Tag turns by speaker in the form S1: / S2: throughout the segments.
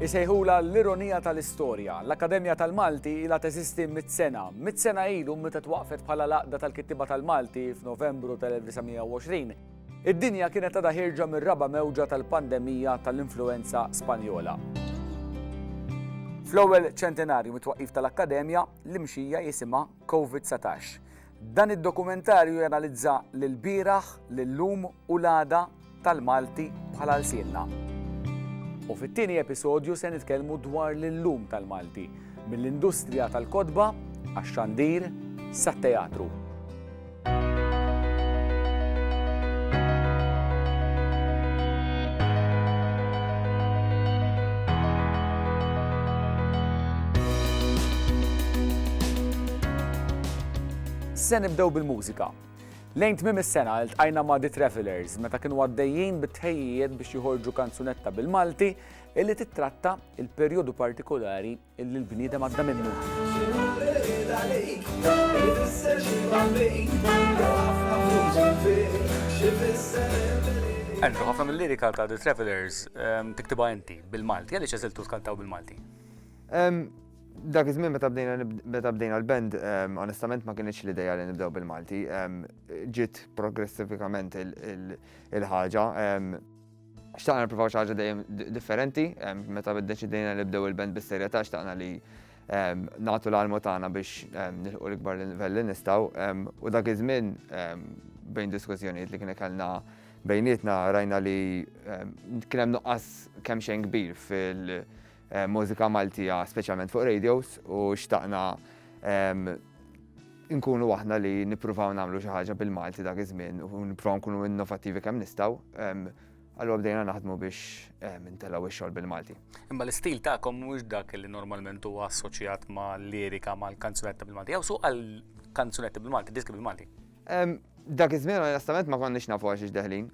S1: Isejħulha l-ironija tal-istorja. L-Akkademja tal-Malti ilha teżisti mitt sena. Mitt sena ilu meta twaqqfet bħala l-Għaqda tal-Kittiba tal-Malti f'Novembru tal-1920, id-dinja kienet għadha ħierġa mir-raba' mewġa tal-pandemija tal-influwenza Spanjola. Fl-ewwel ċentenarju mit-twaqqif tal-Akkademja, l-imxija jisimha Covid-19. Dan id-dokumentarju janalizza l-bieraħ, l-illum u l-għada tal-Malti bħala lsienna. U fit-tieni episodju se nitkellmu dwar l-illum tal-Malti, mill-industrija tal-kotba għax-xandir sat-teatru. Se nibdew bil-mużika. Lejn tmiem is-sena ltqajna ma' The Travellers meta kienu għaddejjin bit-tħejjijiet biex joħorġu kanzunetta bil-Malti illi tittratta il-perjodu partikolari illi l-bniedem għadda minnu. Andrew, ħafna mill-lirika ta' The Travellers tiktibha inti bil-Malti, għaliex għażiltu tkantaw bil-Malti?
S2: Dak iż-żmien meta bdejna meta bdejna l-band, ehm, onestament ma kienx l-idea li nibdew bil-Malti. Ehm, ġiet progressifikament il-ħaġa. Ehm, xtaqna nipprovaw xi ħaġa dejjem differenti, meta ddeċidejna li bdew il-band bis-serjetà xtaqna li nagħtu l-almu tagħna biex nilħu l-ikbar livell li nistgħu. U dak iż-żmien bejn diskussjonijiet li kien kellna bejnietna rajna li kien hemm nuqqas kemm xejn kbir fil- mużika Maltija speċjalment fuq radios u xtaqna nkunu aħna li nippruvaw nagħmlu xi ħaġa bil-Malti dak iż-żmien u nippruvaw nkunu innovattivi kemm nistgħu. Allura bdejna naħdmu biex intelgħu x-xogħol bil-Malti. Imma l-istil tagħkom
S1: mhux dak li normalment huwa assoċjat ma' lirika mal-kanzunetti bil-Malti. Jew suq għal kanzunetti bil-Malti, diski bil-Malti. Dak
S2: iż-żmien onestament ma konniex nafu għax ix deħlin.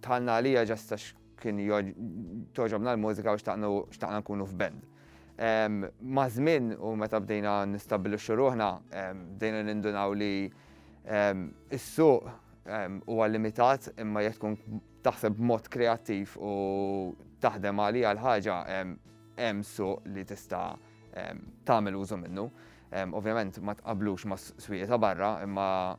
S2: Tħallna għalija ġastax Kien togħġobna l-mużika u xtaqna nkunu f'band. Ma' żmien u meta bdejna nistabbilixxu ruħna, bdejna nindunaw li s-suq huwa limitat imma jekk tkun taħseb b'mod kreattiv u taħdem għaliha l-ħaġa hemm suq li tista' tagħmel użu minnu. Ovvjament ma tqablux ma swieq ta' barra, imma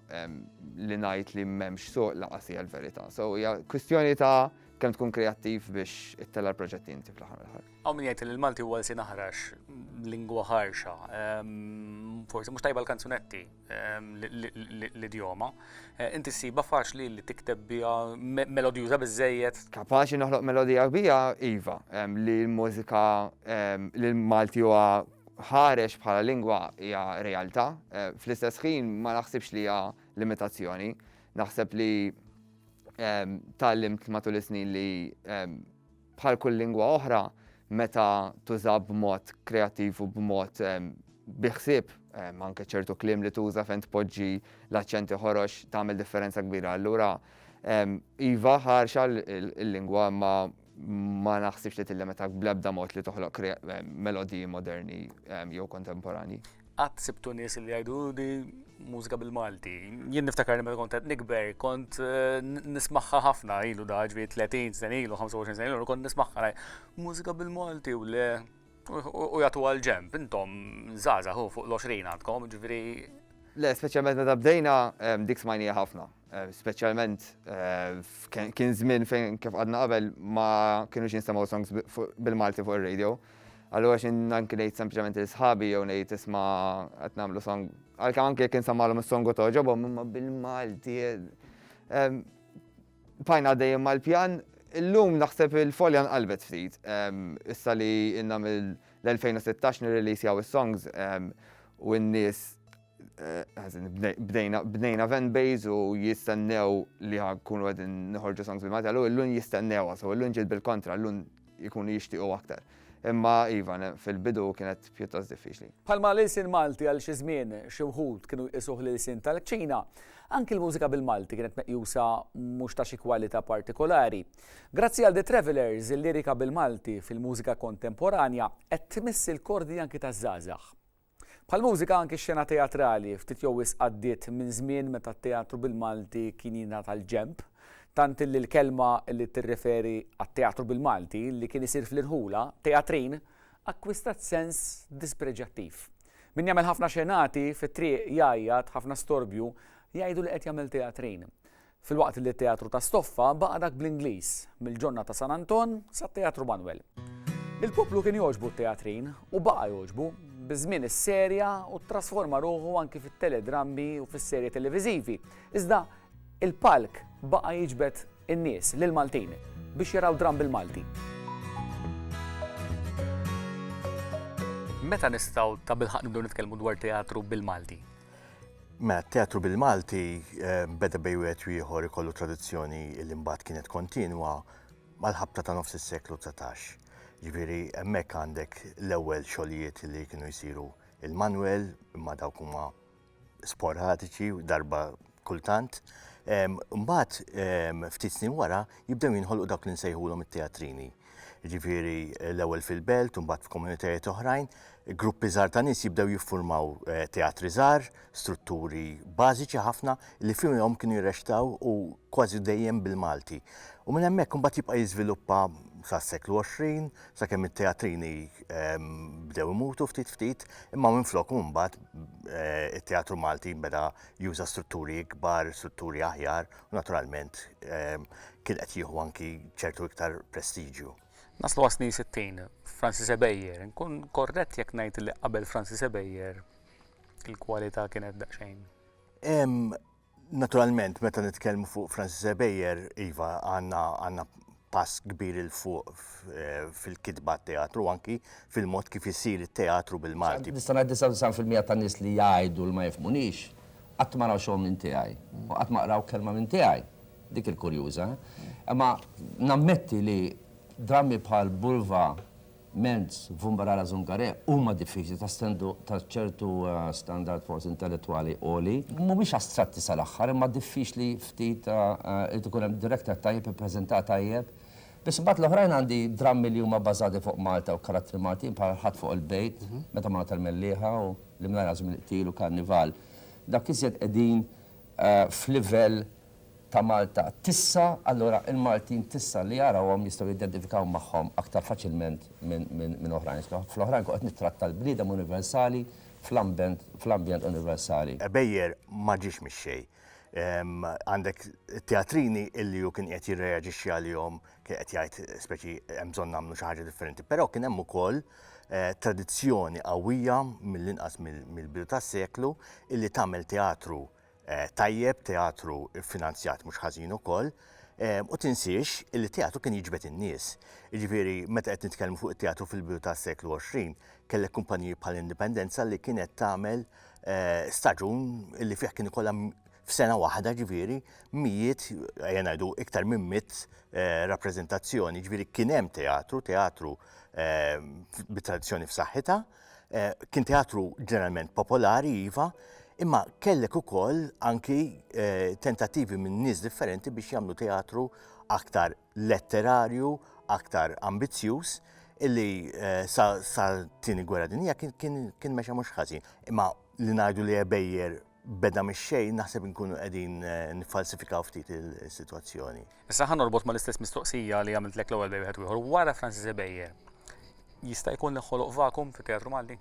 S2: li ngħid li m'hemmx suq laqas hija l-verità. So hija kwistjoni ta' kemm tkun kreattiv biex ittella l-proġetti inti fl-aħħar mill-aħħar. Hawn min jgħid li l-Malti huwa
S1: lsien aħrax, lingwa ħarxa. Forsi mhux tajba l-kanzunetti. l-idjoma, inti ssibha faċli li tikteb biha melodjuża biżżejjed? Kapaċi noħloq
S2: melodija kbira? Iva. Li l-mużika, li l-Malti huwa ħarex bħala lingwa hija realtà. Fl-istess ħin ma naħsibx li hija limitazzjoni. Naħseb li tgħallimt matul is-snin li Bħal kull lingwa oħra, meta tuża b'mod kreattiv u b'mod bi ħsieb, anke ċertu kliem li tuża fejn tpoġġi l-aċċenti ħorox tagħmel differenza kbira. Allura, iva ħarxa l-lingwa ma ma naħsibx li tillimita bl-ebda mod li toħloq melodiji moderni jew kontemporani. qatt sibtu
S1: nies li jgħidu di mużika bil-Malti. Jien niftakar li meta kont qed nikber, kont eh, nismaħħa ħafna ilu da ġvi 30 sen ilu, 25 sen ilu, kont nismaħħa mużika bil-Malti u le u jagħtu għal ġemp, intom zaza hu fuq l-20 għandkom, ġifieri. Le, speċjalment
S2: meta bdejna dik smajnija ħafna. Speċjalment kien żmien fejn kif għadna qabel ma kienux jinstemaw songs bil-Malti fuq ir-radio. Allura xin anki ngħid sempliċement li sħabi jew ngħid isma' qed nagħmlu song. Għalkemm anke jekk insemmalhom is-song u togħġobhom imma bil-Malti. Bqajna għaddejjin mal-pjan. Illum naħseb il-folja nqalbet ftit. Issa li ilna mill-2016 nirreleasejaw is-songs u n-nies bdejna bdejna event base u jistennew li ħakunu għedin nħorġu songs bil matalu l-lun jistennew għasu, l-lun ġil bil-kontra, l-lun jikunu jishtiqu aktar. Imma iva, fil-bidu kienet pjuttost diffiċli. Palma l-ilsin Malti għal xi
S1: żmien xi wħud kienu jqisuh l-ilsin tal-kċina, anki l-mużika bil-Malti kienet meqjusa mhux ta' xi kwalità partikolari. Grazzi għal The Travelers, il-lirika bil-Malti fil-mużika kontemporanja qed tmiss il-kordi anki taż-żgħażagħ. Bħall-mużika anki x-xena teatrali ftit jew wisq għaddiet minn żmien meta t-teatru bil-Malti kien jingħata l-ġenb, tant illi l-kelma li tirreferi għat-teatru bil-Malti li kien isir fl-irħula, teatrin, akkwistat sens dispreġjattiv. Min jagħmel ħafna xenati fit-triq jgħajjat, ħafna storbju, jgħidu li qed jagħmel teatrin. Filwaqt li t-Teatru ta' Stoffa baqa' dak bl-Ingliż, mill-Ġonna ta' San Anton sat-Teatru Manwel. Lill-poplu kien jogħġbu t-teatrin, u baqa' jogħġbu. Biż-żmien isserja u ttrasforma ruħu anki fit-teledrammi u fis-serje televiżivi, iżda l-palk baqa' jiġbed in-nies, lill-Maltin, biex jaraw dramm bil-Malti. Meta nistgħu tabilħaqq nibdew nitkellmu dwar teatru bil-Malti? Mela
S3: t-teatru bil-Malti eh, beda bej wieħed u ieħor ikollu tradizzjoni li mbagħad kienet kontinwa mal-ħabta ta' nofs is-seklu 19. Ġifieri hemmhekk għandek l-ewwel xogħlijiet li kienu jsiru il-Manuel imma dawk huma sporadiċi darba kultant. Mbagħad ftit snin wara jibdew jinħolqu dawk li nsejħulhom it-teatrini. jiġifieri l-ewwel fil-belt u mbagħad f'komunitajiet oħrajn, gruppi żgħar ta' nies jibdew jiffurmaw eh, teatri żgħar, strutturi bażiċi ħafna li fihom kienu jirrextaw u kważi dejjem bil-Malti. U minn hemmhekk imbagħad jibqa' jiżviluppa sas-seklu 20 sakemm it-teatrini ehm, bdew imutu ftit ftit imma minn flok mbagħad eh, it-teatru Malti beda juża strutturi ikbar, strutturi aħjar Naturalment, ehm, kien qed jieħu anki ċertu iktar prestiġju. Naslu għasni 60,
S1: Francis Ebejer, nkun korret jekk ngħid li qabel Francis Ebejer il-kwalità kienet daqsxejn. Ehm,
S3: naturalment, meta nitkellmu fuq Francis Ebejer, iva għandna pass kbir 'il fuq fil-kitba għat-teatru u anki fil-mod kif isir it-teatru bil-Malti. Nista' ngħid 99 fil-mija
S4: tan-nies li jgħidu li ma jifhmunix, qatt ma raw xogħol minn tiegħi u qatt ma qraw kelma minn tiegħi. Dik il-kurjuża. Imma nammetti li drammi bħal Bulva, Mentz, Vumbarara Zungare huma diffiċli ta' stendu ta' ċertu standard forsi intellettwali għoli. Mhumiex astratti sal-aħħar imma diffiċli ftit irid ikun hemm director tajjeb ippreżenta tajjeb. Biss imbagħad l-oħrajn għandi drammi li huma bbażati fuq Malta u karattri Maltin bħal Ħadd fuq il-Bejt, Meta Margħa tal-Mellieħa u L-Imnajr Għażem il-Qtil u Karnival. Dawk iżjed qegħdin f'livell ta' Malta tissa, allura il-Maltin tissa li jarawhom jistgħu jidentifikaw magħhom aktar faċilment minn oħrajn. Fl-oħrajn kont qed nittratta l-bniedem universali fl-ambjent universali. Beyer ma
S3: ġiex mix-xejn. Għandek Teatrini illi hu kien qiegħed jirreaġixxi għalihom, kien qed jgħid speċi hemm bżonn nagħmlu xi ħaġa differenti. Però kien hemm ukoll tradizzjoni qawwija mill-inqas mill-bidu tas-seklu illi tagħmel teatru Eh, tajjeb, teatru finanzjat mhux ħażin ukoll. Eh, u tinsiex li teatru kien jiġbed in-nies. Ġifieri meta qed nitkellmu fuq it-teatru fil-bidu tas-seklu 20, kellek kumpaniji bħal Indipendenza li kienet tagħmel eh, staġun li fih kien ikollha f'sena waħda ġifieri mijiet ngħidu iktar minn mit rappreżentazzjoni, ġifieri kien hemm teatru, teatru bit-tradizzjoni f'saħħitha. Eh, kien teatru ġeneralment popolari, iva, imma kellek ukoll anki eh, tentattivi minn nies differenti biex jagħmlu teatru aktar letterarju, aktar ambizzjuż, illi eh, sa, sa tini gwerra dinija kien, kien, kien mexa mhux ħażin. Imma li ngħidu li ebejjer beda mix-xejn naħseb inkunu qegħdin niffalsifikaw ftit is-sitwazzjoni. Issa ħa norbot
S1: mal-istess mistoqsija li għamiltlek l-ewwel bej wieħed ieħor wara Francis Ebejer. Jista' jkun li ħoloq vakum fit-teatru Malti?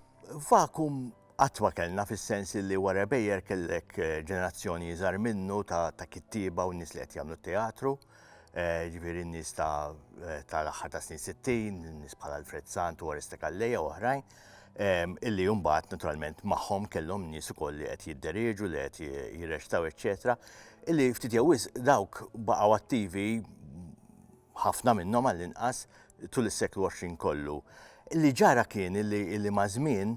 S1: Vakum
S3: qatt ma kellna fis-sens li wara Ebejer kellek ġenerazzjoni iżgħar minnu ta' kittieba u nies li qed jagħmlu teatru. Eh, ġifiri n-nis ta' eh, tal-axħar ta' snin 60, n-nis bħal Alfred Sant u Arista Kalleja u oħrajn, ehm, illi jumbat naturalment maħħom kellhom nis ukoll li qed jidderieġu, li qed jirrextaw, eċċetera, illi ftit jawis dawk baqgħu attivi ħafna minnhom għall-inqas tul is-seklu 20 kollu. Illi ġara kien illi ma' żmien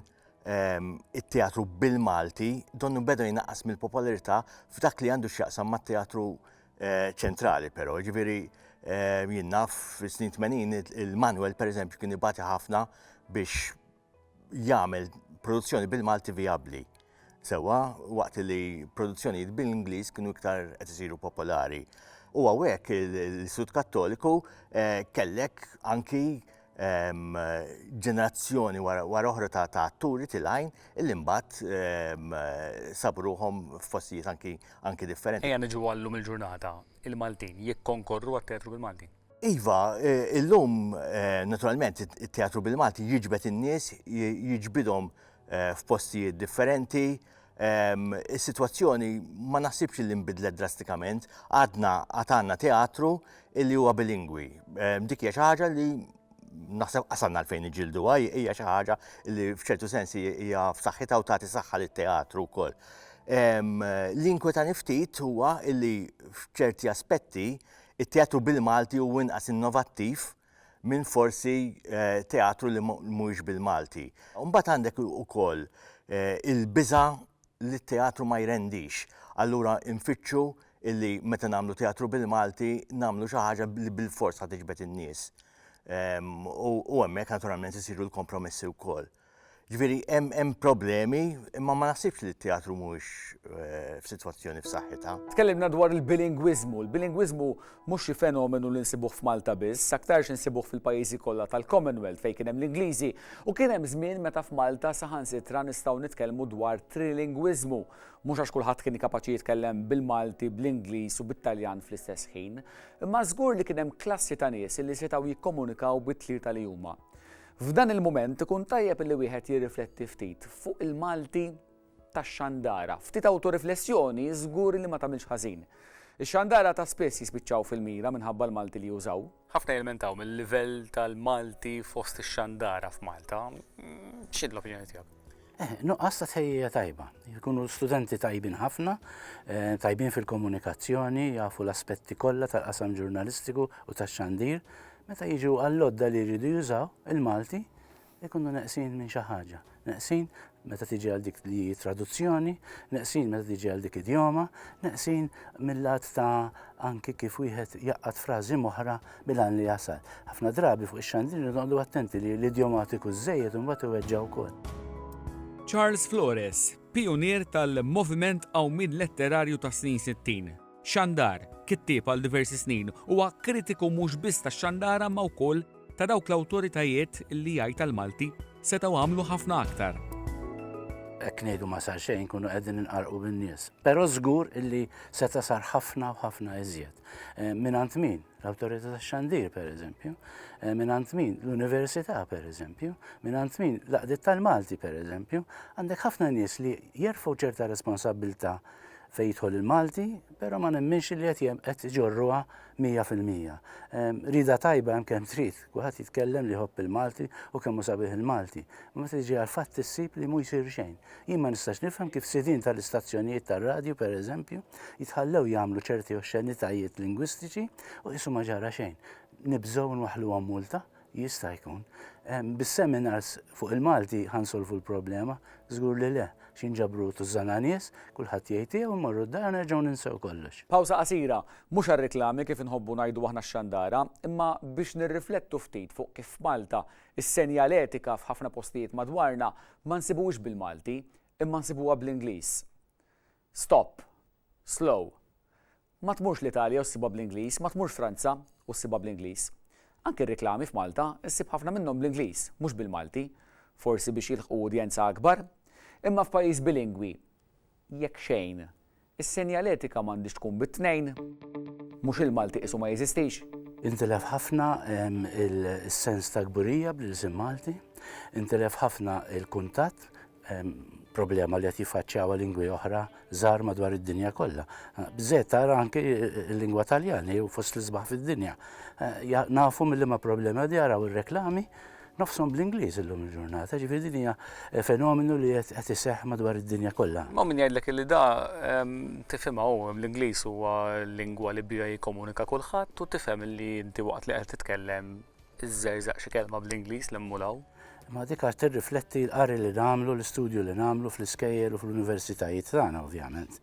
S3: ehm, it-teatru bil-Malti donnu beda jnaqqas mill-popolarità f'dak li għandu x'jaqsam mat-teatru Eh, ċentrali però, ġviri eh, jien naf fis-snin 80 il-Manuel pereżempju kien ibati ħafna biex jagħmel produzzjoni bil-Malti vijabbli. Sewa waqt li produzzjoni bil-Ingliż kienu iktar qed isiru popolari. U għawek l-Istut Kattoliku eh, kellek anki ġenerazzjoni wara oħra ta' atturi tilgħin illi mbagħad sabruhom f'postijiet anki anki differenti. Ejja niġu għallum il-ġurnata
S1: il-Maltin jikkonkorru għat-teatru bil-Malti. Iva, e,
S3: illum e, naturalment it-teatru bil-Malti jiġbed in-nies, jiġbidhom e, f'postijiet differenti, Is-sitwazzjoni ma naħsibx li nbidlet drastikament, għadna għad għandna teatru illi huwa bilingwi. Dik hija xi ħaġa li naħseb qasanna fejn iġildu għaj, hija xi ħaġa li f'ċertu sens hija f'saħħitha u tagħti saħħa lit-teatru wkoll. L-inkwetani ftit huwa illi f'ċerti aspetti it-teatru bil-Malti huwa inqas innovattiv minn forsi teatru li mhuwiex bil-Malti. Mbagħad għandek ukoll il-biża' li t-teatru ma jrendix. Allura nfittxu illi meta nagħmlu teatru bil-Malti nagħmlu xi ħaġa li bilfors ħa tiġbed in-nies. U hemmhekk naturalment isiru l-kompromessi wkoll. Ġifieri hemm hemm problemi, imma ma naħsibx li t-teatru mhuwiex eh, f'sitwazzjoni f'saħħitha. Tkellimna dwar
S1: il-bilingwiżmu. Il-bilingwiżmu mhux xi fenomenu li nsibuh f'Malta biss, aktarx insibuh fil-pajjiżi kollha tal-Commonwealth fejn kien hemm l-Ingliżi u kien hemm żmien meta f'Malta saħansitra nistgħu nitkellmu dwar trilingwiżmu. Mhux għax kulħadd kien kapaċi jitkellem bil-Malti, bl-Ingliż u bit-Taljan fl-istess ħin, imma żgur li kien hemm klassi ta' nies li setgħu jikkomunikaw bit-tlieta li huma. F'dan il-mument ikun tajjeb li wieħed jirrifletti ftit fuq il-Malti tax-xandara. Ftit awtoriflessjoni żgur li ma tagħmilx ħażin. Ix-xandara ta' spiss jispiċċaw fil-mira minħabba l-Malti li jużaw. Ħafna jilmentaw mill-livell tal-Malti fost ix-xandara f'Malta. X'inhi l-opinjoni tiegħek? Eh, nuqqas ta'
S5: tħejjija tajba. Jkunu studenti tajbin ħafna, eh, tajbin fil-komunikazzjoni, jafu l-aspetti kollha tal-qasam ġurnalistiku u tax-xandir, Meta jiġu għall-għodda li jridu jużaw, il-Malti jkunu neqsin minn xi ħaġa. Neqsin meta tiġi għal dik li traduzzjoni, neqsin meta tiġi għal dik idjoma, neqsin mill-lat ta' anki kif wieħed jaqqat frażi moħra bil-għan li jasal. Ħafna drabi fuq ix-xandri noqogħdu attenti li l-idjomatiku żejjed imbagħad iweġġa' wkoll. Charles
S6: Flores, pijunier tal-moviment qawmien letterarju tas-snin 60. Xandar, kittieb għal diversi snin, huwa kritiku mhux biss tax-xandara imma wkoll ta' dawk l-awtoritajiet li jgħid għall-Malti setgħu għamlu ħafna aktar.
S5: Hekk ngħidu ma sar xejn inkunu qegħdin inqarrqu bin-nies. Però żgur illi seta' sar ħafna u ħafna iżjed. Eh, mingħand min? L-awtorità tax-xandir pereżempju, eh, mingħand min? L-università pereżempju, mingħand min? L-qdiet tal-Malti pereżempju, għandek ħafna nies li jerfgħu ċerta responsabbiltà fejn jidħol il-Malti, però ma nemminx li qed qed iġorruha 100%. Ehm, rida tajba hemm kemm trid, kulħadd jitkellem li ħobb il-Malti u kemm hu sabiħ il-Malti. Ma meta tiġi għal fatt issib li mhu jsir xejn. Jien ma nistax nifhem kif sidin tal-istazzjonijiet tar-radju pereżempju jitħallew jagħmlu ċerti oxxenitajiet lingwistiċi u qisu ma ġara xejn. Nibżgħu nwaħħluhom multa, Jista' jkun. Bis-seminars fuq il-Malti ħa nsolvu l-problema? Żgur li le, x'inġabru tużżana nies, kulħadd jgħid tiegħu, mmorru d-dar u nerġgħu ninsew kollox. Pawsa qasira,
S1: mhux għar-riklami kif inħobbu ngħidu aħna x-xandara, imma biex nirriflettu ftit fuq kif f'Malta s-senjaletika f'ħafna postijiet madwarna ma nsibuhiex bil-Malti, imma nsibuha bl-Ingliż. Stop, slow. Ma tmurx l-Italja u ssibha bl-Ingliż, ma tmurx Franza u ssibha bl-Ingliż. Anki r-riklami f'Malta ssib ħafna minnhom bl-Ingliż, mhux bil-Malti, forsi biex jilħqu udjenza akbar. Imma f'pajjiż bilingwi, jekk xejn, is-senjaletika m'għandhiex tkun bit-tnejn. Mhux il-Malti qisu ma jeżistix. Intilef ħafna
S5: is-sens ta' kburija bl-ilsien Malti, intilef ħafna il-kuntatt, problema li qed jiffaċċjawha lingwi oħra żgħar madwar id-dinja kollha. Bżejt tara anke l-lingwa Taljani u fost l-isbaħ fid-dinja. Eh, nafu mill ma problemi għad jaraw ir-reklami nofsom bl-Ingliż illum il-ġurnata, ġifieri din hija eh, fenomenu li qed iseħħ madwar id-dinja kollha. Ma min jgħidlek li da
S1: ehm, tifhimha hu l-Ingliż huwa lingwa li bija jikkomunika kulħadd u tifhem li inti waqt li qed titkellem iżżerżaq xi kelma bl-Ingliż li mmur hawn. Imma dik għad
S5: tirrifletti l-qari li nagħmlu, l-istudju li nagħmlu fl-iskejjel u fl-universitajiet tagħna ovvjament.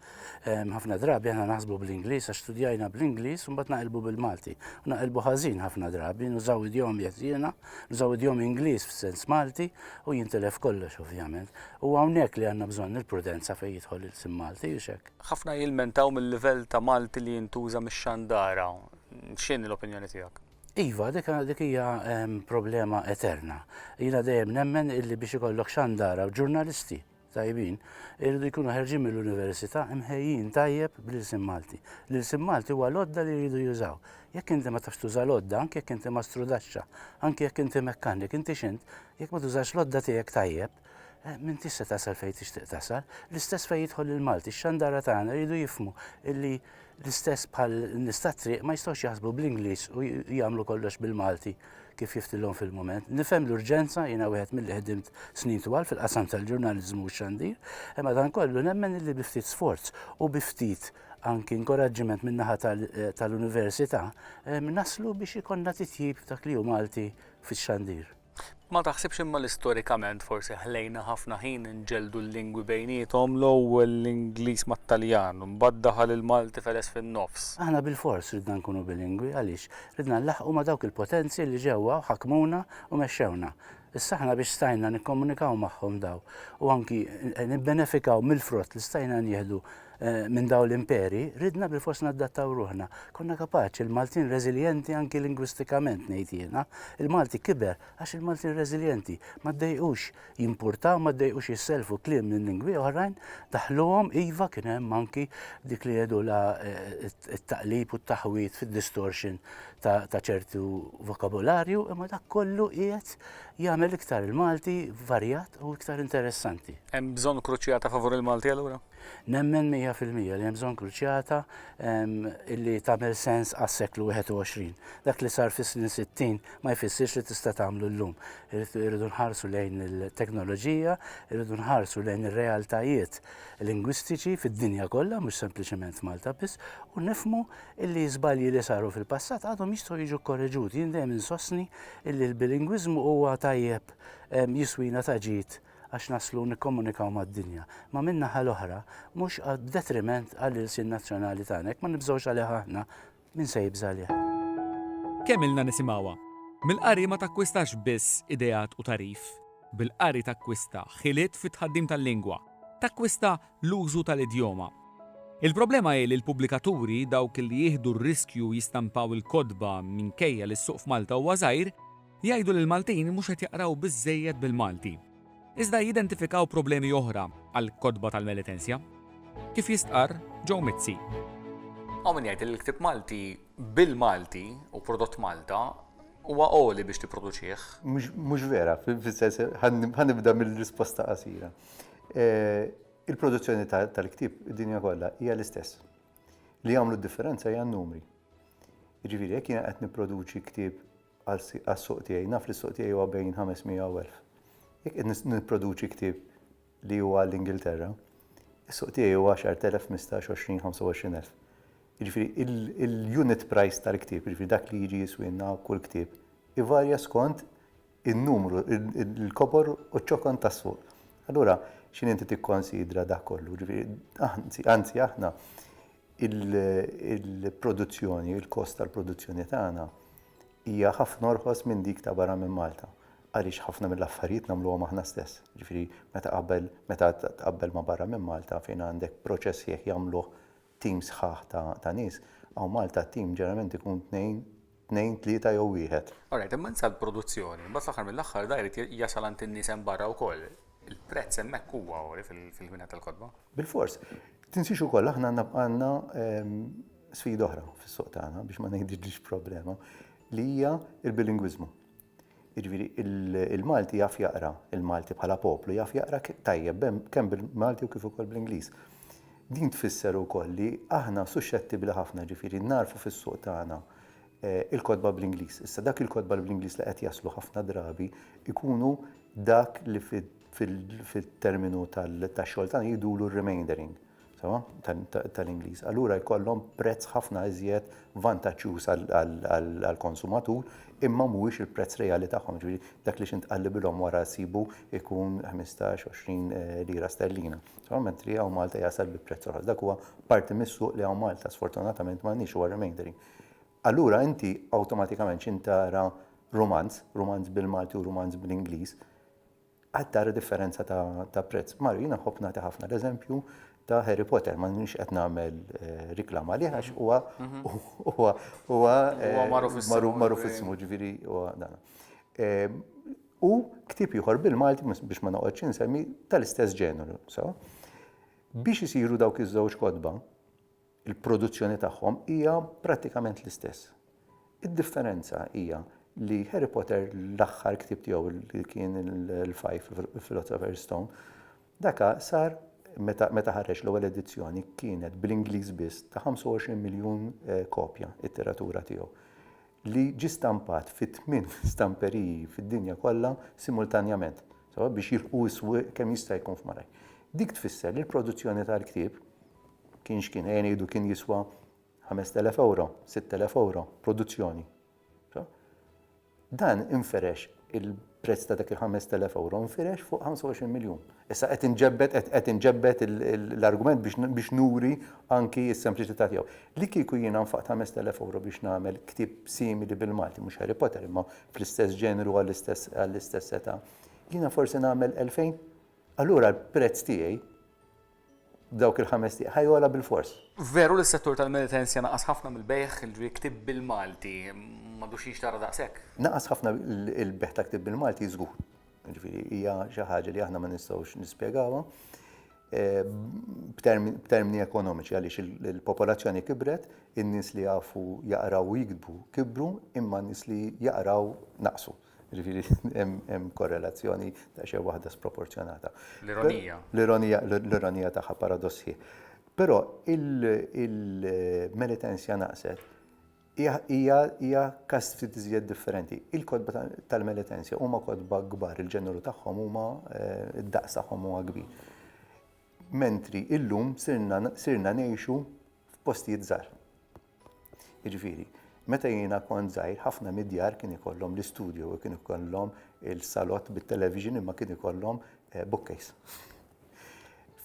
S5: Ehm, ħafna drabi aħna naħsbu bl-Ingliż għax studjajna bl-Ingliż u mbagħad naqilbu bil-Malti. U naqilbu ħażin ħafna drabi, nużaw idjom jeżjena, nużaw idjom Ingliż f'sens Malti u jintilef kollox ovvjament. U hawnhekk li għandna bżonn il-prudenza fejn jidħol il-sim Malti u xek. Ħafna jilmentaw
S1: mill-livell ta' Malti li jintuża mix-xandara. X'inhi l-opinjoni tiegħek? Iva,
S5: dik dik hija ehm, problema eterna. Jiena dejjem nemmen illi biex ikollok xandara u ġurnalisti tajbin, irridu jkunu ħerġin mill-università imħejjin tajjeb bl-ilsim Malti. L-ilsim Malti huwa lodda li jridu jużaw. Jekk inti ma tafx tuża lodda, anke jekk inti ma strudaxxa, anke jekk inti mekkanik, inti xint, jekk ma tużax lodda tiegħek tajjeb, Eh, Minti se tasal fejn tixtieq tasal, l-istess fejn jidħol il-Malti, x-xandara tagħna jridu jifmu illi l-istess bħal nista' triq ma jistgħux jaħsbu bl-Ingliż u jagħmlu kollox bil-Malti kif jiftilhom fil-moment. Nifhem l-urġenza jiena wieħed mill ħdimt snin twal fil-qasam tal-ġurnaliżmu u xandir, imma dan kollu nemmen illi bi ftit sforz u bi ftit anki inkoraġġiment min-naħa eh, tal-università eh, naslu biex ikonna titjib dak li hu Malti fix-xandir. Ma taħsibx
S1: imma li storikament forsi ħlejna ħafna ħin inġelldu l-lingwi bejniethom, l-ewwel l-Ingliż mat-Taljan, imbagħad daħal il-Malti feles fin-nofs. Aħna bilfors ridna
S5: nkunu bilingwi, għaliex? Ridna nlaħħqu ma' dawk il-potenzi li ġewwa u ħakmuna u mexxewna. Issa aħna biex stajna nikkomunikaw magħhom dawn u anki nibbenefikaw mill-frott li stajna nieħdu Eh, minn daw l-imperi, ridna bil-fors naddattaw ruħna. Konna kapaċi, il-Maltin reżiljenti anki lingwistikament ngħid jiena. Il-Malti kiber għax il-Maltin reżiljenti ma ddejqux jimpurtaw, ma ddejqux jisselfu kliem minn lingwi oħrajn, daħluhom iva kien hemm anki dik li jedu la eh, t-taqlib u t-taħwit fid-distortion ta' ċertu vokabularju, imma dak kollu qiegħed jagħmel iktar il-Malti varjat u iktar interessanti. Hemm bżonn kruċjata
S1: favur il-Malti allura? Nemmen mija
S5: fil-mija li hemm bżonn kruċjata li tagħmel sens għas-seklu 21. Dak li sar fis-snin 60 ma jfissirx li tista' tagħmlu llum. Irridu nħarsu lejn il-teknoloġija, irridu nħarsu lejn ir-realtajiet lingwistiċi fid-dinja kollha, mhux sempliċement Malta biss, u nifmu li żbalji li saru fil-passat għadhom jistgħu jiġu korreġuti. Jien dejjem insostni li l-bilingwiżmu huwa tajjeb jiswina ta' ġid għax naslu nikkomunikaw mad-dinja, imma min-naħa l-oħra mhux b'detriment għall-ilsien nazzjonali tagħna. Jekk ma nibżgħux għalih aħna, min se jibża' għalih? Kemm
S6: ilna nisimgħuha? Mill-qari ma takkwistax biss ideat u tagħrif. Bil-qari takkwista ħiliet fit-tħaddim tal-lingwa, takkwista l-użu tal-idjoma. Il-problema hi li l-pubblikaturi, dawk li jieħdu r-riskju jistampaw il-kotba minkejja li s-suq f'Malta huwa żgħir, Jgħidu li l-Maltin mhux qed jaqraw biżżejjed bil-Malti. Iżda jidentifikaw problemi oħra għall-kotba tal-Melitensja. Kif jistqarr Joe Mizzi. Hawn min
S1: jgħid li l-ktieb Malti bil-Malti u prodott Malta huwa għoli biex tipproduċih. Mhux vera,
S7: fis-sens ħanibda mill-risposta qasira. Eh, il-produzzjoni tal-ktieb id-dinja kollha hija l-istess. Li jagħmlu d-differenza hija n-numri. Jiġifieri jekk jiena qed nipproduċi ktieb għas-suq tiegħi. Naf li s-suq tiegħi huwa bejn 500 u 1000. Jekk qed nipproduċi ktieb li huwa għall-Ingilterra, is-suq tiegħi huwa 10,000, 15, 20, 25 elf. Jiġifieri il-unit price tal-ktieb, jiġifieri dak li jiġi jiswielna kull ktieb, ivarja skont in-numru, il-kobor u ċ-ċokon tas-suq. Allura x'inhi inti tikkonsidra dak kollu? Jiġifieri anzi aħna il-produzzjoni, il-kost tal-produzzjoni tagħna hija ħafna orħos minn dik ta' barra minn Malta għaliex ħafna mill-affarijiet nagħmluhom aħna stess. Ġifieri meta qabel meta tqabbel ma' barra minn Malta fejn għandek proċess sħiħ jagħmluh tim sħaħ ta' nies, hawn Malta t-tim ġeneralment ikun tnejn tnejn, tlieta jew wieħed. All right, imma insa
S1: l-produzzjoni, imbagħad fl-aħħar mill-aħħar da jrid jasal għand in-nies hemm barra wkoll. Il-prezz hemmhekk huwa għoli fil-ħwienet tal-kotba. Bilfors.
S7: Tinsiex ukoll aħna għandna sfida oħra fis-suq tagħna biex ma ngħidilx problema li hija l-bilingwiżmu. Jiġifieri, il-Malti jaf jaqra, il-Malti bħala poplu jaf jaqra tajjeb kemm bil-Malti u kif ukoll bl-Ingliż. Din tfisser ukoll li aħna suxxettibbli ħafna, jiġifieri nagħrfu fis-suq tagħna l-kotba bl-Ingliż. Issa dak il-kotba bl-Ingliż li qed jaslu ħafna drabi jkunu dak li fit-terminu tax-xogħol tagħna jgħidulu r-remaindering. sewwa, tal-Ingliż, allura jkollhom prezz ħafna iżjed vantaġġjuż għall-konsumatur imma mhuwiex il-prezz reali tagħhom, jiġifieri dak li xi ntqal li bilhom wara jsibu jkun ħmistax, għoxrin lira sterlina, sewwa, mentri hawn Malta jasal bi prezz orħos. Dak huwa parti mis-suq li hawn Malta sfortunatament m'għandniex, huwa remaindering. Allura inti awtomatikament xi tara rumanz, rumanz bil-Malti u rumanz bl-Ingliż, Qed tara differenza ta' prezz. Mara, jiena nħobb nagħti ħafna l-eżempju ta' Harry Potter, ma nix qed nagħmel eh, riklam għalih għax huwa huwa huwa eh, magħruf ismu ġifieri huwa dan. Eh, u ktib ieħor bil-Malti biex ma noqgħodx insemmi tal-istess ġeneru, so. Biex isiru dawk iż-żewġ kodba, Il-produzzjoni tagħhom hija prattikament l-istess. Id-differenza hija li Harry Potter l-aħħar ktieb tiegħu li kien il-Five Philosopher's Stone, daka sar meta meta ħareġ l-ewwel edizzjoni kienet bl-Ingliż biss ta' 25 miljun eh, kopja it-tiratura tiegħu li ġi stampat fi tmien stamperiji fid-dinja kollha simultanjament biex jilħu s-swieq kemm jista' jkun f'maraj. Dik tfisser li l-produzzjoni tal-ktieb kien x'kien ejja ngħidu kien jiswa 5000 euro, 6000 euro, produzzjoni. Dan inferex il-prezz ta' dak il-5000 euro infirex fuq 25 miljun. Issa qed inġebbet qed inġebbet l-argument biex nuri anki s-sempliċità tiegħu. Li kieku jiena nfaqt 5000 euro biex nagħmel ktieb simili bil-Malti, mhux Harry Potter imma fl-istess ġeneru għall-istess età, jiena forsi nagħmel 2000. Allura l-prezz tiegħi Dawk il-ħames tieq ħa jogħla bilfors. Veru li s-settur
S1: tal-meditenza naqas ħafna mill-bejgħ li ktieb bil-Malti, m'għadux jinxtara daqshekk? Naqas ħafna
S7: l-bejgħ ta' ktieb bil-Malti żgur. Jiġifieri hija xi ħaġa li aħna ma nistgħux nispjegawha b'termini ekonomiċi għaliex il-popolazzjoni kibret, in-nies li jafu jaqraw u jiktbu kibru imma n-nies li jaqraw naqsu. Jiġifieri hemm korrelazzjoni ta' xejn waħda sproporzjonata. L-ironija. L-ironija, l-ironija tagħha paradossi. Però il-Melitensja naqset hija każ ftit iżjed differenti. Il-kotba tal-Melitensja huma kotba kbar, il-ġeneru tagħhom huma d-daqs tagħhom huwa kbir. Mentri illum sirna ngħixu f'postijiet żgħar. Jiġifieri, meta jiena kont żgħir ħafna mid-djar kien ikollhom l-istudju u kien ikollhom il-salott bit-television imma kien ikollhom eh, bookcase.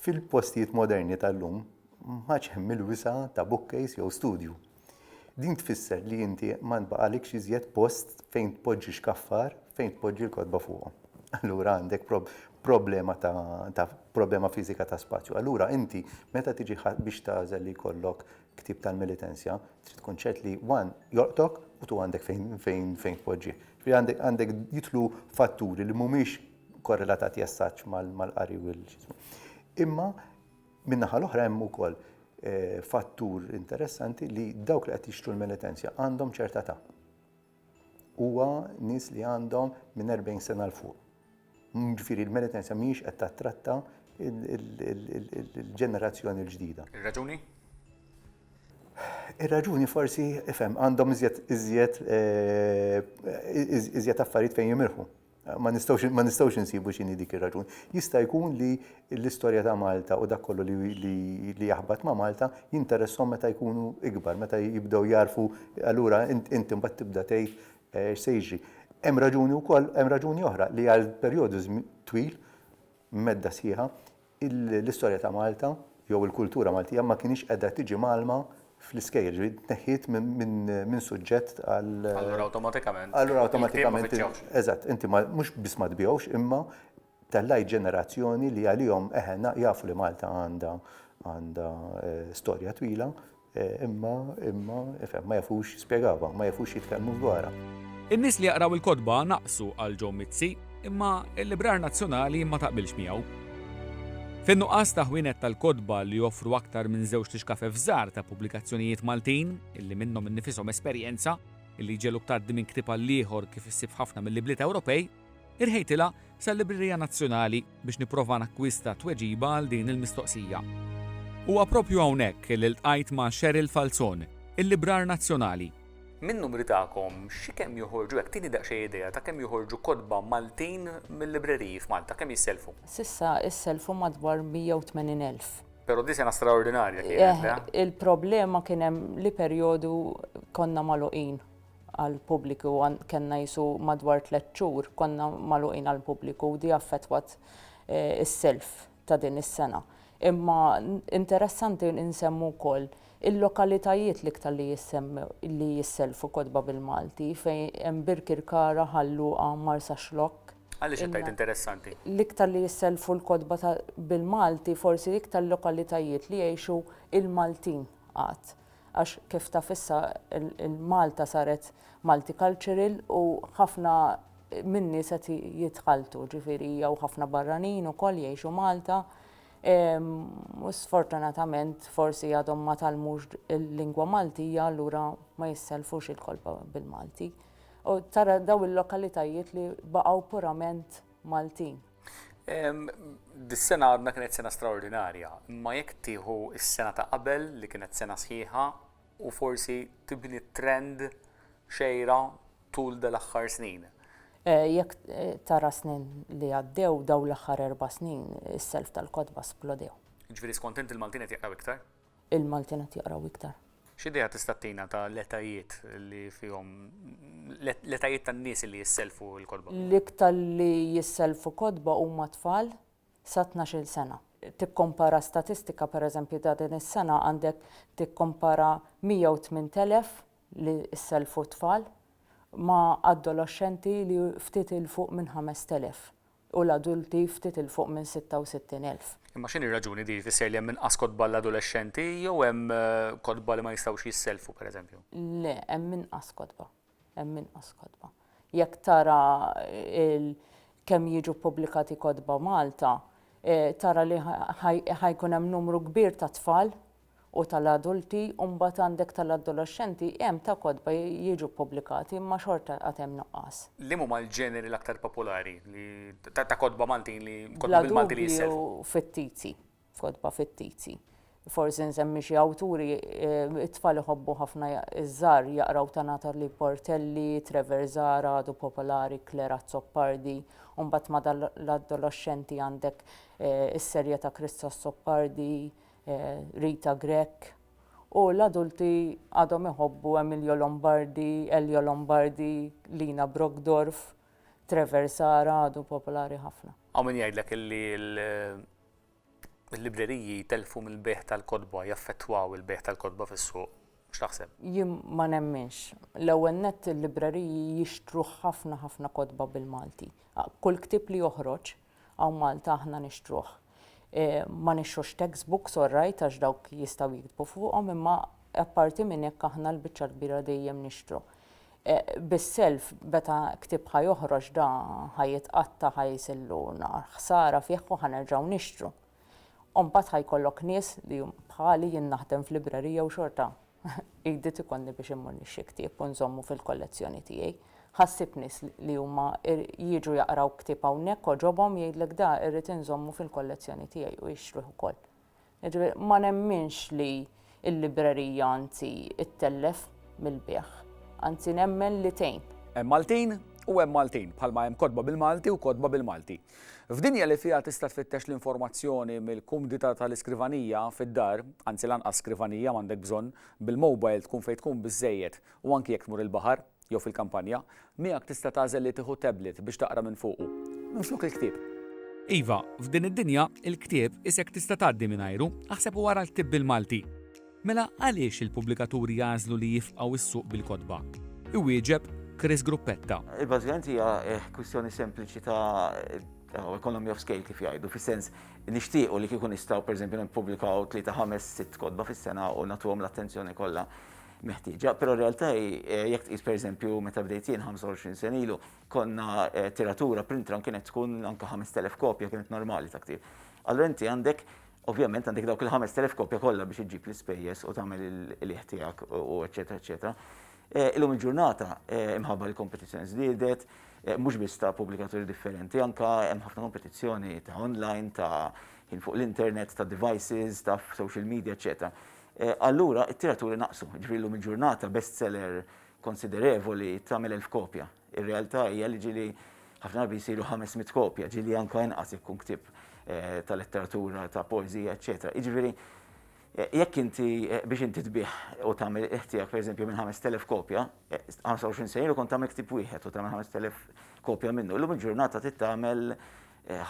S7: Fil-postijiet moderni tal-lum maċ hemm il-wisa ta' bookcase jew studju. Din tfisser li inti ma nbaqalikx iżjed post fejn tpoġġi xkaffar fejn tpoġġi l-kodba fuqhom. Allura għandek prob problema ta', ta problema fizika ta' spazju. Allura inti meta tiġi biex tażel li jkollok Ktieb tal-militenzja, trid tkun ċert li one jolqtok u two għandek fejn fejn tpoġġih. Ġifieri għandek għandek jidħlu fatturi li mhumiex korrelatati as-such mal-qari u l-x'ismu. Imma min-naħa l-oħra hemm ukoll fattur interessanti li dawk li qed jixtru l-militenzja għandhom ċerta età. huwa nies li għandhom minn 40 sena l fuq. Ġifieri l-meritenza mhijiex qed tattratta il-ġenerazzjoni l-ġdida. Ir-raġuni? Ir-raġuni forsi, ifhem, għandhom iżjed iżjed eh, iżjed affarijiet fejn jimirħu. Ma nistgħux ma nistgħux insibu x'inhi dik ir-raġun. Jista' jkun li l-istorja ta' Malta u dak kollu li, li, li jaħbat ma' Malta jinteresshom meta jkunu ikbar, meta jibdew jarfu allura int, int imbagħad tibda tgħid eh, x'se jiġri. Hemm raġuni wkoll, hemm raġuni oħra li għal perjodu żmi- twil, medda sħiħa, l-istorja ta' Malta jew il-kultura Maltija ma kinitx qiegħda tiġi mgħallma fl-iskejjel, ġifieri tneħħiet minn suġġett għal. Allura awtomatikament.
S1: Allura awtomatikament.
S7: Eżatt, inti mhux biss ma tbigħux imma tellgħajt ġenerazzjoni li għalihom eħe jafu li Malta għandha storja twila. Imma, imma, ifhem, ma jafux jispjegawha, ma jafux jitkellmu dwarha. In-nies li jaqraw
S6: il-kotba naqsu għal Joe Mizzi, imma l-Librar Nazzjonali ma taqbilx miegħu. Fin-nuqqas ta' ħwienet tal-kotba li joffru aktar minn żewġt ixkafef żgħar ta' pubblikazzjonijiet Maltin, illi minnhom innifishom esperjenza, illi jġegħluk tgħaddi minn ktieb għall-ieħor kif issib f'ħafna mill-ibliet Ewropej, Irħejtilha sal-Librerija Nazzjonali biex nipprova nakkwista tweġiba għal din il-mistoqsija. Huwa proprju hawnhekk li ltqajt ma' Cheryl Falzon, il-librar nazzjonali. Min-numri
S1: tagħkom xi kemm joħorġu hekk tini daqsxejn idea ta' kemm joħorġu kotba Maltin mil-libreriji f'Malta, kemm jisselfu? S'issa isselfu
S8: madwar 180 elf. Pero di sena
S1: straordinarja kienet, le? Il-problema kien
S8: hemm li perjodu konna magħluqin. għall-pubbliku kellna qisu madwar tliet xhur konna magħluqin għall-pubbliku u di affettwat is-self ta' din is-sena. Imma interessanti nsemmu wkoll il-lokalitajiet l-iktar li jissemmew li jisselfu kotba bil-Malti fejn hemm Birkirkara, Ħal Luqa, Marsaxlokk. Għaliex
S1: qed tgħid interessanti? L-iktar li jisselfu
S8: l-kotba ta' bil-Malti forsi iktar lokalitajiet li jgħixu l-Maltin għad. għax kif taf issa il-Malta saret multicultural u ħafna min-nies qed jitħalltu, ġifieri jew ħafna barranin ukoll jgħixu Malta u sfortunatament forsi għadhom ma tgħallmux il-lingwa Maltija allura ma jissellfux il-kolba bil-Malti. U tara dawn il-lokalitajiet li baqgħu purament Maltin.
S1: Dis-sena għadna kienet sena straordinarja, imma jekk tieħu s-sena ta' qabel li kienet sena sħiħa u forsi tibni trend xejra tul dal-aħħar snin. Eh, jekk
S8: eh, tara snin li għaddew daw l-aħħar erba' snin is-self tal-kotba splodew. Ġifieri skont inti
S1: l-Maltin qed jaqraw iktar? il-Maltin qed
S8: jaqraw iktar. X'idea tista' ttina
S1: ta' l-etajiet li fihom l-etajiet tan-nies li jissellfu l-kotba? L-iktar li
S8: jissellfu kotba huma tfal sa tnax-il sena. Tikkompara statistika pereżempju ta' din is-sena għandek tikkompara 108,000 li ssellfu t-tfal ma' addoloxxenti li ftit 'il fuq minn 5,000. u l-adulti ftit 'il fuq minn 66,000. Imma x'inhi r-raġuni
S1: di jfisser li hemm inqas kotba għall-adolexxenti jew hemm kotba li ma jistgħux jissellfu pereżempju? Le, hemm
S8: inqas kotba. Hemm inqas kotba. Jekk tara il kemm jiġu ppubblikati kotba Malta, tara li ħa jkun hemm numru kbir ta' tfal u tal-adulti u mbagħad għandek tal-adoloxxenti hemm ta' kotba jiġu ppubblikati imma xorta għad hemm nuqqas. Liema huma l-ġeneri
S1: l-aktar popolari li ta' kotba Maltin li kotba bil-Malti li jissellfu? Bla dubju fittizi,
S8: kotba fittizi. Forsi nsemmi xi awturi, it-tfal iħobbu ħafna iż-żgħar jaqraw ta' Natalie Portelli, Trevor Zahra għadu popolari, Claire Azzopardi, u mbagħad ma' tal-adoloxxenti għandek is-serje ta' Chris Azzopardi, Rita Grech, u l-adulti għadhom iħobbu Emilio Lombardi, Elio Lombardi, Lina Brockdorff, Trevor Sara għadu popolari ħafna. Hawn min jgħidlek illi
S1: l-libreriji jtellfu mill-bejgħ tal-kotba, jaffettwaw il-bejgħ tal-kotba fis-suq. X'taħseb? Jien ma
S8: nemminx. L-ewwel nett il-libreriji jixtru ħafna ħafna kotba bil-Malti. Kull ktieb li joħroġ Hawn Malta aħna nixtruh. Ma nixtrux text books all right għax dawk jistgħu jiktbu fuqhom imma apparti minn hekk aħna l-biċċa l-kbira dejjem nixtru. Bis-self meta ktieb ħa joħroġ da ħa jitqatta' ħa jisillu nar ħsara fih u ħa nerġgħu nixtru. U mbagħad ħa jkollok nies li bħali jien naħdem f'librerija u xorta Għidiet ikollni biex immur nixtri ktieb u nżommu fil-kollezzjoni tiegħi. Ħassib nies li huma jiġu jaqraw ktieb hawnhekk għoġobhom jgħidlek da irrid inżommu fil-kollezzjoni tiegħi u jixtruh ukoll. Jiġifieri ma nemminx li l-librerija anzi ttellef mill-bejgħ. Anzi nemmen li tgħin. Hemm Maltin
S6: u hemm Maltin, bħalma hemm kotba bil-Malti u kotba bil-Malti. F'dinja li fiha tista' tfittex l-informazzjoni mill-kumdità tal-iskrivanija fid-dar, anzi lanqas skrivanija m'għandek bżonn, bil-mowbajl tkun fejn tkun biżżejjed u anki jekk tmur il-baħar jew fil-kampanja, miegħek tista' tagħżel li tieħu tablet biex taqra minn fuqu, minflok il-ktieb. Iva, f'din id-dinja, il-ktieb isek tista' tgħaddi mingħajru, aħseb u ara l-ktieb bil-Malti. Mela għaliex il-pubblikaturi jagħżlu li jifqgħu s-suq bil-kotba? Iwieġeb Chris Gruppetta. Bażikament hija
S9: kwistjoni sempliċi ta' economy of scale kif jgħidu, fis-sens nixtiequ li kieku nistgħu pereżempju nippubblikaw tlieta ħames sitt kotba fis-sena u nagħtuhom l-attenzjoni kollha meħtieġa, però r-realtà hi jekk tqis pereżempju meta bdejt jien 25 sena ilu konna tiratura print run kienet tkun anke 5,000 kopja kienet normali ta' ktieb. Allura inti għandek Ovvjament għandek dawk il-ħamest elef kopja kollha biex iġġib l-ispejjeż u tagħmel il-qligħ tiegħek u eċċetera eċċetera. Eh, illum il-ġurnata eh, imħabba l-kompetizzjoni żdiedet, eh, mhux biss ta' pubblikaturi differenti, anka hemm ħafna kompetizzjoni ta' online, ta' ħin fuq l-internet, ta' devices, ta' social media, eċċetera. Allura, it-tiraturi naqsu, ġifieri illum il-ġurnata bestseller konsiderevoli tagħmel elf kopja. Ir-realtà hija li ġieli ħafna drabi jsiru 500 kopja, ġieli anke inqas jekk ikun ktieb ta' letteratura, ta' poeżija, eċċetera. Jiġifieri jekk inti biex inti tbigħ u tagħmel il-qigħ tiegħek pereżempju minn 5,000 kopja, 25 sena ilu kont tagħmel ktieb wieħed u tagħmel 5,000 kopja minnu. Illum il-ġurnata trid tagħmel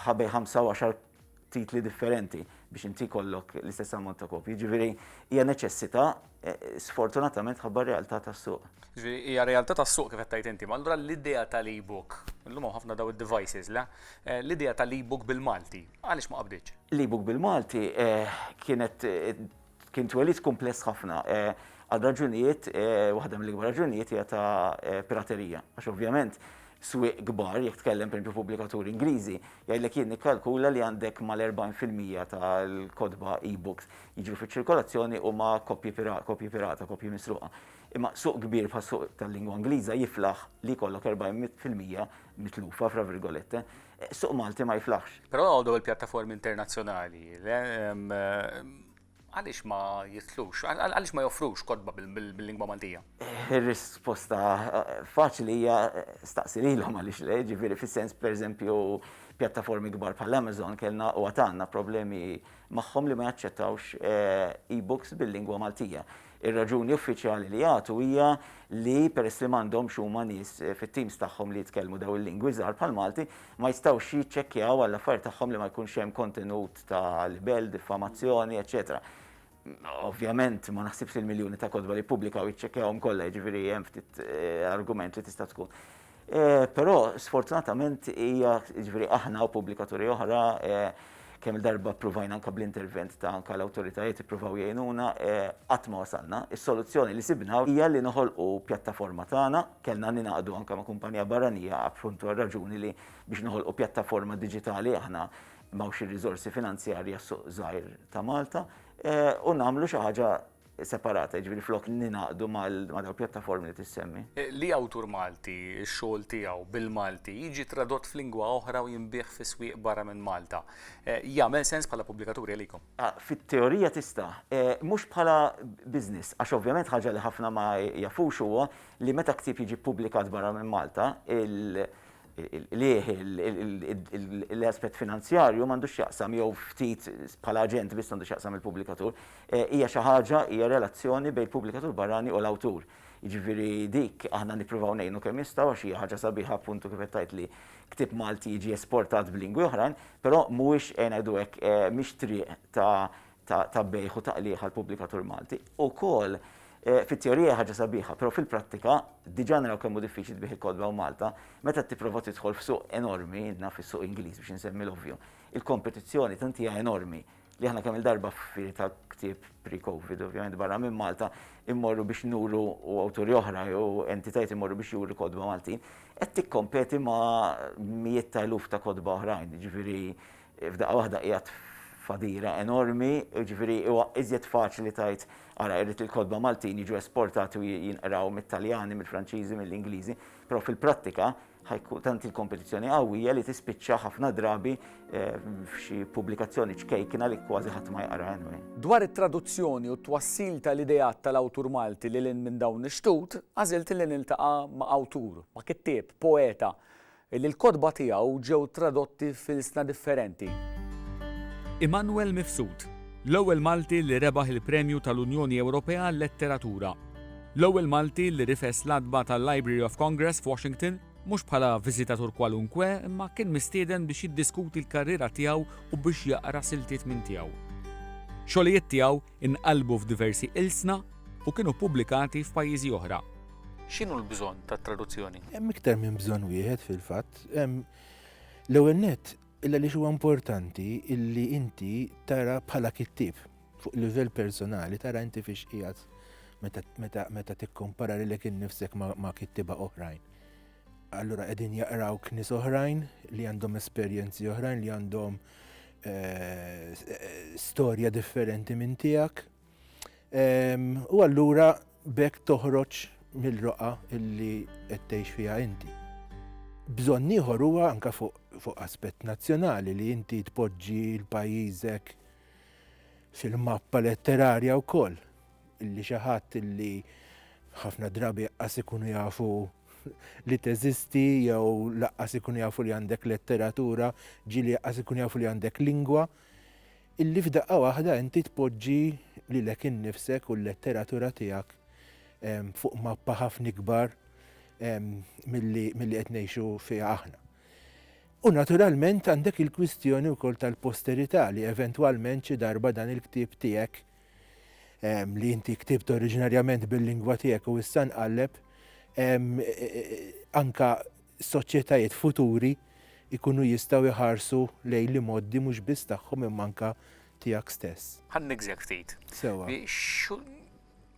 S9: ħabej 25 titli differenti biex inti kollok l-istess ammont ta' kopji. Ġifieri hija neċessità eh, sfortunatament ħabba realtà tas-suq. Ġifieri hija realtà
S1: tas-suq kif qed inti, ma allura l-idea tal-e-book, illum hawn ħafna daw id-devices, le? Eh, l-idea tal-e-book bil-Malti, għaliex ma qabditx? L-e-book bil-Malti
S9: eh, kienet Kien twelid kumpless ħafna għal raġunijiet, waħda mill-ikbar raġunijiet hija ta' piraterija. Għax ovvjament swieq kbar, jekk tkellem pereżempju pubblikaturi Ingliżi, jgħidlek jien nikkalkula li għandek mal-40 fil-mija tal-kotba e-books jiġu fiċ-ċirkolazzjoni huma koppji pirata, koppji misruqa. Imma suq kbir bħas-suq tal-lingwa Ingliża jiflaħ li jkollok 40 fil-mija mitlufa, fra virgolette. Suq Malti ma jiflaħx. Però għodu il-pjattaformi
S1: internazzjonali, għaliex ma jitlux, għaliex ma joffrux kodba bil-lingwa Maltija? Ir-risposta
S9: eh, faċli hija eh, staqsi lilhom għaliex le, ġifieri fis-sens pereżempju pjattaformi kbar bħal Amazon kellna u għatanna problemi magħhom li ma jaċċettawx eh, e-books bil-lingwa Maltija. Ir-raġuni uffiċjali li jagħtu hija li peress li m'għandhomx huma nies fit-teams tagħhom li jitkellmu dawn il-lingwi żgħar bħall-Malti, ma jistgħux jiċċekkjaw għall-affarijiet tagħhom li ma jkunx hemm kontenut ta' libell, diffamazzjoni, eċċetera. Ovvjament ma naħsibx li l-miljuni ta' kotba li jippubblikaw jiċċekkjawhom kollha, jiġifieri hemm ftit argument li tista' tkun. Però sfortunatament hija jiġifieri aħna u pubblikaturi oħra kemm il-darba provajna anka bl-intervent ta' anka l-awtoritajiet ippruvaw jgħinuna, qatt ma wasalna. Is-soluzzjoni li sibna hija li noħolqu pjattaforma tagħna, kellna ningħaqdu anka ma' kumpanija barranija appuntu għar-raġuni li biex noħolqu pjattaforma diġitali aħna m'hawnx ir-riżorsi finanzjarji għas-suq żgħir ta' Malta, u nagħmlu xi ħaġa separata, jiġifieri flok ningħaqdu ma' dawn il-pjattaformi li tissemmi. Li awtur
S1: Malti, x-xogħol tiegħu bil-Malti jiġi tradott f'lingwa oħra u jinbiegħ fi swieq barra minn Malta, jagħmel sens bħala pubblikaturi għalikom? Fit-teorija
S9: tista'. Mhux bħala business, għax ovvjament ħaġa li ħafna ma jafux huwa li meta ktieb jiġi ppubblikat barra minn Malta, il-qligħ, l-aspett finanzjarju m'għandux x'jaqsam jew ftit bħala aġent biss għandu x'jaqsam il-pubblikatur. Hija xi ħaġa, hija relazzjoni bejn il-pubblikatur barrani u l-awtur. Jiġifieri dik aħna nippruvaw ngħinu kemm nistgħu għax hija ħaġa sabiħa appuntu kif qed tgħid li ktieb Malti jiġi esportat b'lingwi oħrajn, però mhuwiex ejja ngħidu hekk mhix triq ta' ta' ta' bejgħ u ta' qligħ għall-pubblikatur Malti. Ukoll fit-teorija hija ħaġa sabiħa, però fil-prattika diġà naraw kemm hu diffiċli tbigħ il-kotba hawn Malta, meta tipprova tidħol f'suq enormi, naf is-suq Ingliż biex insemmi l-ovvju, il-kompetizzjoni tant hija enormi li aħna kemm il-darba f'firi ta' ktieb pre-Covid, ovvjament barra minn Malta, immorru biex nuru u awturi oħra jew entitajt immorru biex juru kodba Maltin, qed tikkompeti ma' mijiet ta' eluf ta' kodba oħrajn, ġifieri f'daqqa waħda qiegħed fadira enormi, ġifieri huwa iżjed faċli tajt ara irrid il-kodba Maltin jiġu esportati u jinqraw mit-Taljani, mill-Franċiżi, mill-Ingliżi, però fil-prattika ħajku tant il-kompetizzjoni qawwija li tispiċċa ħafna drabi eh, f'xi pubblikazzjoni ċkejkina li kważi ħadd ma jaqra anyway. Dwar it-traduzzjoni
S1: u t-twassil tal-ideat tal-awtur Malti li lin minn dawn ix-xtut, għażilt li niltaqa' ma' awtur, ma' kittieb, poeta, li l-kotba tiegħu ġew tradotti fil-sna differenti.
S6: Immanuel Mifsud, l-ewwel Malti li rebaħ il-Premju tal-Unjoni Ewropea għal Letteratura L-ewwel Malti li rifes l-għatba tal-Library of Congress f'Washington, mhux bħala viżitatur kwalunkwe, imma kien mistieden biex jiddiskuti l-karriera tiegħu u biex jaqra siltiet minn tiegħu. Xogħlijiet tiegħu nqalbu f'diversi ilsna u kienu ppubblikati f'pajjiżi oħra. X'inhu l-bżonn tat-traduzzjoni? Hemm iktar minn bżonn
S10: wieħed fil-fatt. L-ewwel nett, il-għaliex huwa importanti illi inti tara bħala kittieb, Fuq livell personali tara inti fiex qiegħed meta tikkompara lilek innifsek ma' kittiba oħrajn. Allura qegħdin jaqraw knis oħrajn li għandhom esperjenzi oħrajn li għandhom eh, storja differenti minn tiegħek. U allura bekk toħroġ mill-roqa illi qed tgħix fiha inti. Bżonn ieħor huwa anke fuq aspett nazzjonali li inti tpoġġi l-pajjiżek fil-mappa letterarja wkoll illi xi ħadd illi ħafna drabi qas ikunu jafu li teżisti jew laqqas ikunu jafu li għandek letteratura, ġieli laqqas ikunu jafu li għandek lingwa, illi f'daqqa waħda inti tpoġġi lilek innifsek u l-letteratura tiegħek ehm, fuq mappa ħafna ikbar ehm, milli qed ngħixu fiha aħna. U naturalment għandek il-kwistjoni wkoll tal-posterità li eventwalment xi darba dan il-ktieb tiegħek ehm, li inti ktibt oriġinarjament bil-lingwa tiegħek u issa nqalleb ehm, e, e, e, anka soċjetajiet futuri ikunu jistgħu jħarsu lejn li moddi mhux biss tagħhom imma anka tiegħek stess. Ħan nigżja ftit.
S1: Sewa.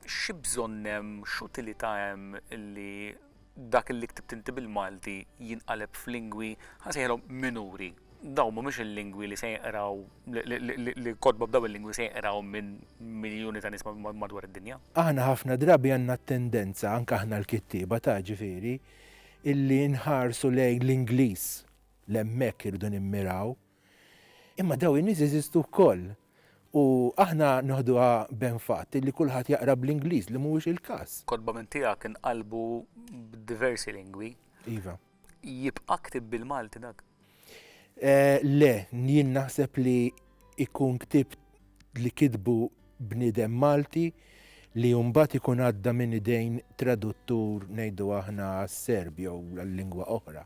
S1: Xi bżonn hemm, x'utilità hemm li dak li ktibt inti bil-Malti jinqaleb f'lingwi, ħa nsejħilhom minuri? Dawn mhumiex il-lingwi li se jinqraw, li kotba b'dawn il-lingwi se jinqraw minn miljuni ta' nies madwar id-dinja. Aħna ħafna drabi
S10: għandna t-tendenza, anke aħna l-kittieba ta' ġifieri, illi nħarsu lejn l-Ingliż, l-hemmhekk irridu nimmiraw. Imma dawn in-nies jeżistu wkoll. U aħna noħduha b'enfat li kulħadd jaqra bl-Ingliż, li mhuwiex il-każ. Kotba minn tiegħek
S1: inqalbu b'diversi lingwi. Iva.
S10: Jibqa'
S1: ktieb bil-Malti dak?
S10: Le, jien naħseb li jkun ktieb li kitbu bniedem Malti li mbagħad ikun għadda minn idejn traduttur ngħidu aħna għas-Serb jew għal lingwa oħra.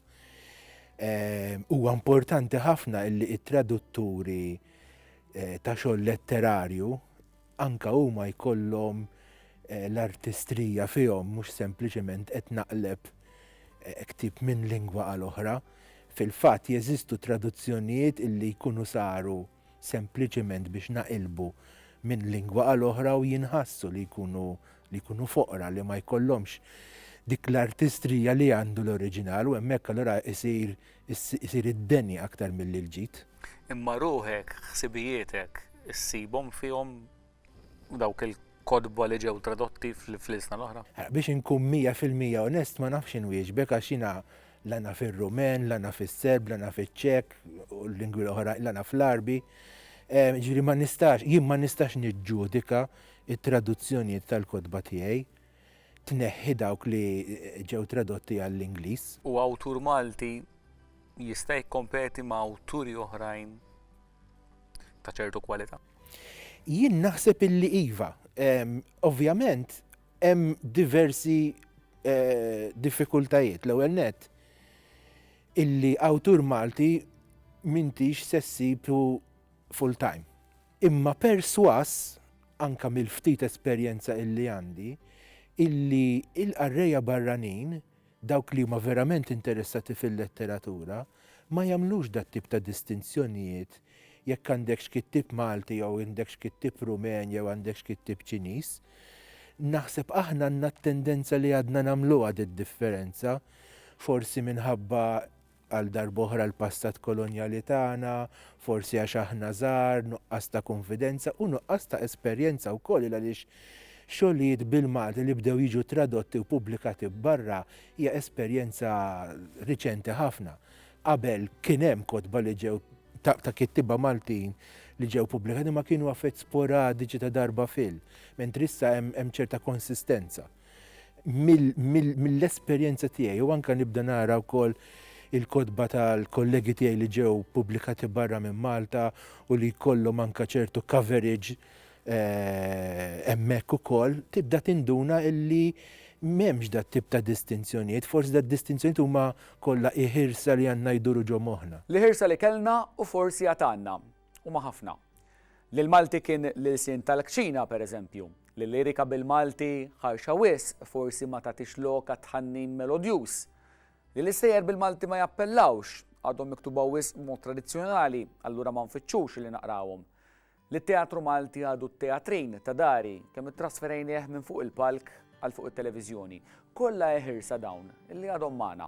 S10: Ehm, huwa importanti ħafna illi it-tradutturi eh, ta' xogħol letterarju anka huma jkollhom eh, l-artistrija fihom mhux sempliċement qed naqleb eh, ktib minn lingwa għal oħra. Fil-fatt jeżistu traduzzjonijiet illi jkunu saru sempliċement biex naqilbu minn lingwa għal oħra u jinħassu li jkunu li jkunu foqra li ma jkollhomx dik l-artistrija li għandu l-oriġinal u hemmhekk allura isir isir id-deni aktar milli l-ġid. Imma ruħek,
S1: ħsibijietek, issibhom fihom dawk il-kotba li ġew tradotti fl-ilsna l-oħra? Biex inkun mija
S10: fil-mija onest ma nafx inwieġbek għax jiena la naf ir-Rumen, la naf is-Serb, la naf iċ-Ċek u l-lingwi l-oħrajn, la naf l-Għarbi. Jiġifieri ma nistax, jien ma nistax niġġudika t-traduzzjonijiet tal-kotba tiegħi, tneħħi dawk li ġew tradotti għall-Ingliż. U awtur
S1: Malti jista' jikkompeti ma' awturi oħrajn ta' ċertu kwalità? Jien
S10: naħseb illi iva. Ovvjament hemm diversi eh, diffikultajiet l-ewwel net illi awtur Malti mintix se ssibu full time. Imma perswas anka mill-ftit esperjenza illi għandi illi il-qarrejja barranin Dawk li huma verament interessati fil-letteratura ma jagħmlux dat-tip ta' distinzjonijiet jekk għandekx kittieb Malti jew għandekx kittieb Rumen jew għandekx kittieb Ċiniż. Naħseb aħna għandna t-tendenza li għadna nagħmluha did-differenza, forsi minħabba Għal darb'oħra l-passat kolonjali tagħna, forsi għax aħna żgħar, nuqqas ta' kunfidenza u nuqqas ta' esperjenza wkoll il għaliex xogħlijiet bil-Malti li bdew jiġu tradotti u pubblikati barra hija esperjenza riċenti ħafna. Qabel kien hemm kotba li ġew ta' ta' kittieba Maltin li ġew pubblikati imma kienu affett sporadiċi ta' darba fil. Mentri issa hemm hemm ċerta konsistenza. mill-esperjenza tiegħi u anke nibda nara wkoll il-kotba tal-kollegi tiegħi li ġew pubblikati barra minn Malta u li jkollhom anke ċertu coverage eh, hemmhekk ukoll, tibda tinduna illi m'hemmx dat tip ta' distinzjonijiet, forsi dat distinzjonijiet huma kollha iħirsa li għandna jduru ġo moħħna. L-iħirsa li kellna
S1: u forsi għad għandna. Huma ħafna. Li l-Malti kien l-ilsien tal-kċina, per eżempju. Li l-lirika bil-Malti ħarxa wisq, forsi ma tagħtix lok għat-tħannin melodjuż. Li l-istejjer bil-Malti ma jappellawx, għadhom miktuba wisq b'mod tradizzjonali, allura ma nfittxux li naqrawhom. Li t-teatru Malti għadu t-teatrin ta' dari, kemm ittrasferejnieh minn fuq il-palk għal fuq it-televiżjoni. Kollha eħirsa dawn, li għadhom magħna.